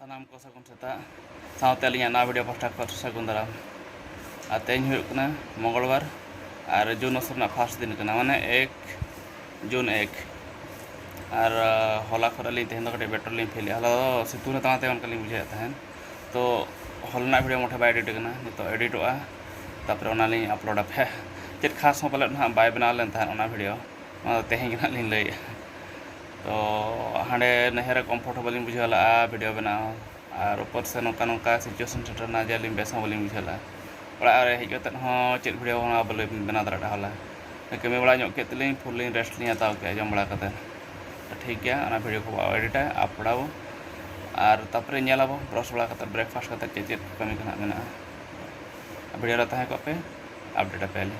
ᱥᱟᱱᱟᱢ ᱠᱚ ᱥᱟᱹᱜᱩᱱ ᱥᱮᱛᱟᱜ ᱥᱟᱶᱛᱮ ᱟᱹᱞᱤᱧᱟᱜ ᱱᱟᱣᱟ ᱵᱷᱤᱰᱤᱭᱳ ᱯᱟᱥᱴᱟ ᱠᱷᱚᱱ ᱥᱟᱹᱜᱩᱱ ᱫᱟᱨᱟᱢ ᱟᱨ ᱛᱮᱦᱮᱧ ᱦᱩᱭᱩᱜ ᱠᱟᱱᱟ ᱢᱚᱝᱜᱚᱞᱵᱟᱨ ᱟᱨ ᱡᱩᱱ ᱢᱟᱥ ᱨᱮᱱᱟᱜ ᱯᱷᱟᱥᱴ ᱫᱤᱱ ᱠᱟᱱᱟ ᱢᱟᱱᱮ ᱮᱠ ᱡᱩᱱ ᱮᱠ ᱟᱨ ᱦᱚᱞᱟ ᱠᱷᱚᱱ ᱟᱹᱞᱤᱧ ᱛᱮᱦᱮᱧ ᱫᱚ ᱠᱟᱹᱴᱤᱡ ᱵᱮᱴᱚᱨ ᱞᱤᱧ ᱯᱷᱤᱞᱮᱫᱼᱟ ᱦᱚᱞᱟ ᱫᱚ ᱥᱤᱛᱩᱝ ᱨᱮ ᱛᱟᱦᱮᱸ ᱚᱱᱠᱟ ᱞᱤᱧ ᱵᱩᱡᱷᱟᱹᱣᱮᱫ ᱛᱟᱦᱮᱸᱫ ᱛᱚ ᱦᱚᱞ ᱨᱮᱱᱟᱜ ᱵᱷᱤᱰᱤᱭᱳ ᱢᱚᱴᱷᱮ ᱵᱟᱭ ᱮᱰᱤᱴ ᱠᱟᱱᱟ ᱱᱤᱛᱚᱜ ᱮᱰᱤᱴᱚᱜᱼᱟ ᱛᱟᱨᱯᱚᱨᱮ ᱚᱱᱟ ᱞᱤᱧ ᱟᱯᱞᱳᱰ ᱟᱯᱮ ᱪᱮᱫ ᱠᱷᱟᱥ ᱦᱚᱸ ᱯᱟᱞᱮᱫ ᱱᱟᱦᱟᱜ ᱵᱟᱭ ᱵᱮᱱᱟᱣ ᱞᱮᱱ ᱛᱟᱦᱮᱸᱫ ᱚᱱᱟ ᱵᱷᱤᱰᱤᱭᱳ ᱚᱱᱟ ᱫᱚ ᱛᱮᱦᱮᱧ ᱜᱮ ᱱᱟᱦᱟᱜ ᱞᱤᱧ ᱞᱟᱹᱭᱮᱫᱼᱟ ᱛᱚ ᱦᱟᱸᱰᱮ ᱱᱟᱹᱭᱦᱟᱹᱨ ᱨᱮ ᱠᱚᱢᱯᱷᱚᱨᱴ ᱦᱚᱸ ᱵᱟᱹᱞᱤᱧ ᱵᱩᱡᱷᱟᱹᱣ ᱞᱟᱜᱼᱟ ᱵᱷᱤᱰᱭᱳ ᱵᱮᱱᱟᱣ ᱟᱨ ᱩᱯᱚᱨ ᱥᱮ ᱱᱚᱝᱠᱟ ᱱᱚᱝᱠᱟ ᱥᱤᱪᱩᱭᱮᱥᱚᱱ ᱥᱮᱴᱮᱨᱮᱱᱟ ᱡᱮ ᱟᱹᱞᱤᱧ ᱵᱮᱥ ᱦᱚᱸ ᱵᱟᱹᱞᱤᱧ ᱵᱩᱡᱷᱟᱹᱣ ᱞᱟᱜᱼᱟ ᱚᱲᱟᱜ ᱨᱮ ᱦᱮᱡ ᱠᱟᱛᱮᱫ ᱦᱚᱸ ᱪᱮᱫ ᱵᱷᱤᱰᱭᱳ ᱦᱚᱸ ᱵᱟᱹᱞᱤᱧ ᱵᱮᱱᱟᱣ ᱫᱟᱲᱮ ᱞᱮᱫᱟ ᱦᱚᱞᱟ ᱠᱟᱹᱢᱤ ᱵᱟᱲᱟ ᱧᱚᱜ ᱠᱮᱫ ᱛᱮᱞᱤᱧ ᱯᱷᱩᱞ ᱞᱤᱧ ᱨᱮᱥᱴ ᱞᱤᱧ ᱦᱟᱛᱟᱣ ᱠᱮᱫᱼᱟ ᱡᱚᱢ ᱵᱟᱲᱟ ᱠᱟᱛᱮᱫ ᱛᱚ ᱴᱷᱤᱠ ᱜᱮᱭᱟ ᱚᱱᱟ ᱵᱷᱤᱰᱭᱳ ᱠᱚ ᱮᱰᱤᱴᱟ ᱟᱯᱞᱳᱰᱟ ᱵᱚ ᱟᱨ ᱛᱟᱨᱯᱚᱨᱮ ᱧᱮᱞ ᱟᱵᱚ ᱵᱨᱟᱥ ᱵᱟᱲᱟ ᱠᱟᱛᱮᱫ ᱵᱨᱮᱠᱯᱷᱟᱥᱴ ᱠᱟᱛᱮᱫ ᱪᱮᱫ ᱪᱮᱫ ᱠᱟᱹᱢᱤ ᱠᱚ ᱦᱟᱸᱜ ᱢᱮᱱᱟᱜᱼᱟ ᱵᱷᱤᱰᱭᱳ ᱨᱮ ᱛᱟᱦᱮᱸ ᱠᱚᱜ ᱯᱮ ᱟᱯᱰᱮᱴ ᱟᱯᱮᱭᱟᱞᱤᱧ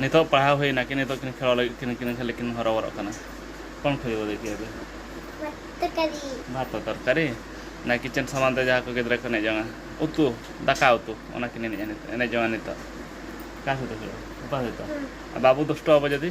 ᱱᱤᱛᱚᱜ ᱯᱟᱲᱦᱟᱣ ᱦᱩᱭ ᱮᱱᱟ ᱠᱤᱱ ᱱᱤᱛᱚᱜ ᱠᱤᱱ ᱠᱷᱮᱞᱚᱜ ᱞᱟᱹᱜᱤᱫ ᱠᱤᱱ ᱠᱤᱱ ᱠᱷᱟᱹᱞᱤ ᱠᱤᱱ ᱦᱚᱨᱚ ᱵᱚᱨᱚᱜ ᱠᱟᱱᱟ ᱠᱚᱱ ᱠᱷᱚᱡᱚᱜ ᱫᱮᱠᱷᱤ ᱟᱫᱚ ᱵᱷᱟᱛᱚ ᱛᱚᱨᱠᱟᱨᱤ ᱚᱱᱟ ᱠᱤᱪᱮᱱ ᱥᱟᱢᱟᱱ ᱛᱮ ᱡᱟᱦᱟᱸ ᱠᱚ ᱜᱤᱫᱽᱨᱟᱹ ᱠᱚ ᱮᱱᱮᱡ ᱡᱚᱝᱟ ᱩᱛᱩ ᱫᱟᱠᱟ ᱩᱛᱩ ᱚᱱᱟ ᱠᱤᱱ ᱮᱱᱮᱡ ᱡᱚᱝᱟ ᱱᱤᱛᱚᱜ ᱚᱠᱟ ᱥᱮᱫ ᱫᱚ ᱦᱩᱭᱩᱜᱼᱟ ᱚᱠᱟ ᱥᱮᱫ ᱫᱚ ᱵᱟᱵᱚ ᱫᱩᱥᱴᱚ ᱟᱵᱚ ᱡᱩᱫᱤ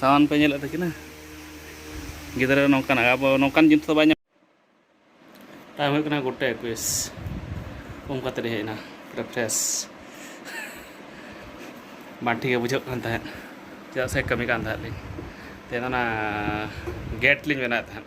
ᱥᱟᱢᱟᱱ ᱯᱮ ᱧᱮᱞᱮᱫ ᱛᱟᱹᱠᱤᱱᱟ ᱜᱤᱫᱽᱨᱟᱹ ᱱᱚᱝᱠᱟᱱ ᱟᱵᱚ ᱱᱚᱝᱠᱟᱱ ᱡᱤᱱᱤᱥ ᱫᱚ ᱵᱟᱭ ᱧᱟᱢ ᱴᱟᱭᱤᱢ ᱦᱩᱭᱩᱜ ᱠᱟᱱᱟ ᱜᱚᱴᱟ ᱮᱠᱩᱥ ᱩᱢ ᱠᱟᱛᱮ ᱦᱮᱡ ᱮᱱᱟ ᱯᱩᱨᱟᱹ ᱯᱷᱨᱮᱥ ᱵᱟᱝ ᱴᱷᱤᱠ ᱵᱩᱡᱷᱟᱹᱜ ᱠᱟᱱ ᱛᱟᱦᱮᱸᱫ ᱪᱮᱫᱟᱜ ᱥᱮ ᱠᱟᱹᱢᱤ ᱠᱟᱱ ᱛᱟᱦᱮᱸᱫ ᱞᱤᱧ ᱛᱮᱦᱮᱧ ᱚᱱᱟ ᱜᱮᱴ ᱞᱤᱧ ᱵᱮᱱᱟᱣᱮᱫ ᱛᱟᱦᱮᱸᱫ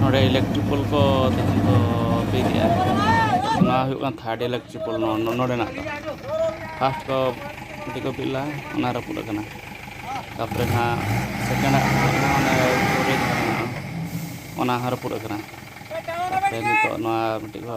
ᱱᱚᱰᱮ ᱤᱞᱮᱠᱴᱨᱤᱯᱚᱞ ᱠᱚ ᱛᱮᱦᱮᱧ ᱠᱚ ᱵᱤᱫᱮᱜᱼᱟ ᱱᱚᱣᱟ ᱦᱩᱭᱩᱜ ᱠᱟᱱᱟ ᱛᱷᱟᱨᱰ ᱤᱞᱮᱠᱴᱨᱤᱯᱚᱞ ᱱᱚᱰᱮᱱᱟᱜ ᱫᱚ ᱯᱷᱟᱥᱴ ᱠᱚ ᱢᱤᱫᱴᱤᱡ ᱠᱚ ᱵᱤᱫ ᱞᱟᱜᱼᱟ ᱚᱱᱟ ᱨᱟᱹᱯᱩᱫ ᱟᱠᱟᱱᱟ ᱛᱟᱨᱯᱚᱨᱮ ᱱᱟᱦᱟᱜ ᱥᱮᱠᱮᱱᱰᱟᱜ ᱚᱱᱟ ᱦᱚᱸ ᱨᱟᱹᱯᱩᱫ ᱟᱠᱟᱱᱟ ᱛᱟᱨᱯᱚᱨᱮ ᱱᱤᱛᱚᱜ ᱱᱚᱣᱟ ᱢᱤᱫᱴᱤᱡ ᱠᱚ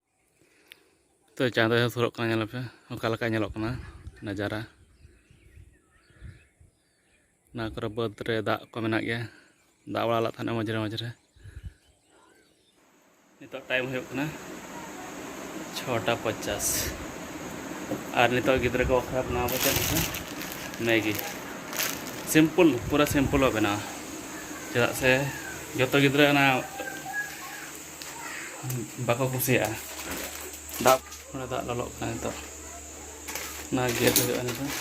ᱛᱚ ᱪᱟᱸᱫᱚ ᱦᱚᱸ ᱥᱩᱨᱚᱜ ᱠᱟᱱᱟ ᱧᱮᱞ ᱯᱮ ᱚᱠᱟ ᱞᱮᱠᱟ ᱧᱮᱞᱚᱜ ᱠᱟᱱᱟ ᱱᱟᱡᱟᱨᱟ ᱚᱱᱟ ᱠᱚᱨᱮ ᱵᱟᱹᱫᱽ ᱨᱮ ᱫᱟᱜ ᱠᱚ ᱢᱮᱱᱟᱜ ᱜᱮᱭᱟ ᱫᱟᱜ ᱵᱟᱲᱟ ᱞᱮᱫ ᱛᱟᱦᱮᱱᱟ ᱢᱟᱡᱷᱮ ᱢᱟᱡᱷᱮ ᱱᱤᱛᱚᱜ ᱴᱟᱭᱤᱢ ᱦᱩᱭᱩᱜ ᱠᱟᱱᱟ ᱪᱷᱚᱴᱟ ᱯᱚᱪᱟᱥ ᱟᱨ ᱱᱤᱛᱚᱜ ᱜᱤᱫᱽᱨᱟᱹ ᱠᱚ ᱵᱟᱠᱷᱨᱟ ᱵᱮᱱᱟᱣ ᱵᱚ ᱪᱮᱫ ᱠᱟᱱᱟ ᱢᱮᱜᱤ ᱥᱤᱢᱯᱚᱞ ᱯᱩᱨᱟᱹ ᱥᱤᱢᱯᱚᱞ ᱵᱚ ᱵᱮᱱᱟᱣᱟ ᱪᱮᱫᱟᱜ ᱥᱮ ᱡᱚᱛᱚ ᱜᱤᱫᱽᱨᱟᱹ ᱚᱱᱟ ᱵᱟᱠᱚ ᱠᱩᱥᱤᱭᱟᱜᱼᱟ ᱫᱟᱜ ᱚᱸᱰᱮ ᱫᱟᱜ ᱞᱚᱞᱚᱜ ᱠᱟᱱᱟ ᱱᱤᱛᱚᱜ ᱚᱱᱟ ᱜᱮᱫ ᱦᱩᱭᱩᱜᱼᱟ ᱱᱤᱛᱚᱜ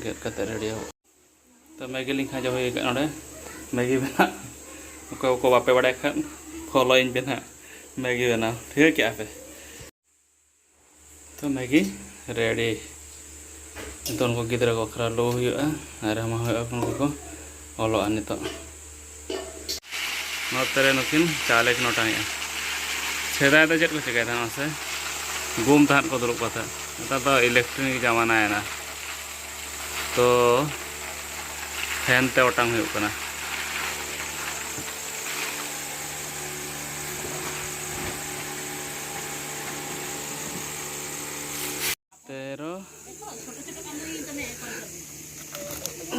ᱜᱮᱫ ᱠᱟᱛᱮ ᱨᱮᱰᱤ ᱦᱩᱭᱩᱜᱼᱟ ᱛᱚ ᱢᱮᱜᱤ ᱞᱤᱧ ᱠᱷᱟᱸᱡᱚ ᱦᱩᱭ ᱟᱠᱟᱫ ᱱᱚᱰᱮ ᱢᱮᱜᱤ ᱵᱮᱱᱟᱜ ᱚᱠᱚᱭ ᱠᱚ ᱵᱟᱯᱮ ᱵᱟᱲᱟᱭ ᱠᱷᱟᱱ ᱯᱷᱚᱞᱳᱭᱤᱧ ᱯᱮ ᱱᱟᱦᱟᱜ ᱢᱮᱜᱤ ᱵᱮᱱᱟᱣ ᱴᱷᱤᱠᱟᱹ ᱠᱮᱜᱼᱟ ᱯᱮ ᱛᱚ ᱢᱮᱜᱤ ᱨᱮᱰᱤ ᱱᱤᱛᱚᱜ ᱩᱱᱠᱩ ᱜᱤᱫᱽᱨᱟᱹ ᱠᱚ ᱠᱷᱟᱨᱟ ᱞᱩ ᱦᱩᱭᱩᱜᱼᱟ ᱟᱨ ᱮᱢᱟ ᱦᱩᱭᱩᱜᱼᱟ ᱩᱱᱠᱩ ᱠᱚ ᱚᱞᱚᱜᱼᱟ ᱱᱤᱛᱚᱜ ᱱᱚᱛᱮ ᱨᱮ ᱱᱩᱠᱤᱱ ᱪᱟᱣᱞᱮ ᱠᱤᱱ ᱚᱴᱟᱝᱮᱜᱼᱟ ᱥᱮᱫᱟᱭ ᱫᱚ ᱪᱮᱫ ᱠᱚ ᱪᱤᱠᱟᱹᱭ ᱛᱟᱦᱮᱸᱫ ᱢᱟᱥᱮ ᱜᱩᱢ ᱛᱟᱦᱮᱸᱫ ᱠᱚ ᱫᱩᱲᱩᱵ ᱠᱟᱛᱮ ᱱᱮᱛᱟᱨ ᱫᱚ ᱤᱞᱮᱠᱴᱨᱤᱠ ᱡᱟᱢᱟᱱᱟᱭᱮᱱᱟ ᱛᱚ ᱯᱷᱮᱱ ᱛᱮ ᱚᱴᱟᱝ ᱦᱩᱭᱩᱜ ᱠᱟᱱᱟ ᱛᱮᱨᱚ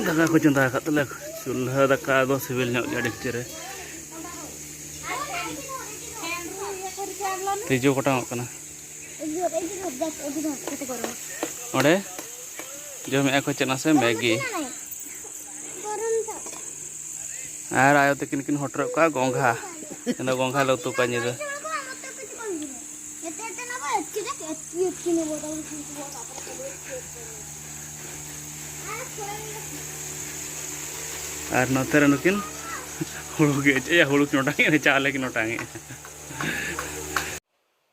ᱫᱟᱠᱟ ᱠᱚ ᱪᱚᱸᱫᱟ ᱟᱠᱟᱫ ᱛᱟᱞᱮ ᱪᱩᱞᱦᱟᱹ ᱫᱟᱠᱟ ᱫᱚ ᱥᱤᱵᱤᱞ ᱧᱚᱜ ᱜᱮᱭᱟ ᱰᱮᱠᱪᱤ ᱨᱮ ᱛᱤᱡᱩ ᱠᱚᱴᱟᱝᱚᱜ ᱠᱟᱱᱟ ᱚᱸᱰᱮ ᱡᱚᱢᱮᱫᱼᱟ ᱠᱚ ᱪᱮᱫ ᱱᱟᱥᱮ ᱢᱮᱜᱤ ᱟᱨ ᱟᱭᱳ ᱛᱟᱹᱠᱤᱱ ᱠᱤᱱ ᱦᱚᱴᱚᱨᱮᱫ ᱠᱚᱣᱟ ᱜᱚᱝᱜᱷᱟ ᱤᱧ ᱫᱚ ᱜᱚᱝᱜᱷᱟ ᱞᱮ ᱩᱛᱩ ᱠᱚᱣᱟ ᱧᱤᱫᱟᱹ ᱟᱨ ᱱᱚᱛᱮ ᱨᱮ ᱱᱩᱠᱤᱱ ᱦᱩᱲᱩ ᱜᱮ ᱦᱩᱲᱩ ᱠᱤᱱ ᱚᱴᱟᱝᱮᱫᱼᱟ ᱪᱟᱣᱞᱮ ᱠᱤᱱ ᱚᱴᱟᱝᱮᱫᱼᱟ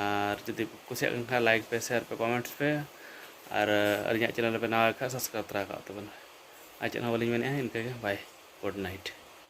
ᱟᱨ ᱡᱩᱫᱤ ᱠᱩᱥᱤᱭᱟᱜ ᱠᱟᱱ ᱠᱷᱟᱱ ᱞᱟᱭᱤᱠ ᱯᱮ ᱥᱮᱭᱟᱨ ᱯᱮ ᱠᱚᱢᱮᱱᱴ ᱯᱮ ᱟᱨ ᱟᱹᱞᱤᱧᱟᱜ ᱪᱮᱱᱮᱞ ᱯᱮ ᱱᱟᱣᱟ ᱠᱷᱟᱱ ᱥᱟᱵᱥᱠᱨᱟᱭᱤᱵᱽ ᱛᱚᱨᱟ ᱠᱟᱜ ᱛᱟᱵᱚᱱ ᱟᱨ ᱪᱮᱫ ᱦᱚᱸ ᱵᱟᱹᱞᱤᱧ ᱢᱮᱱᱮᱫᱼᱟ ᱤᱱᱠᱟᱹᱜᱮ ᱵᱟᱭ ᱜᱩᱰ ᱱᱟᱭᱤᱴ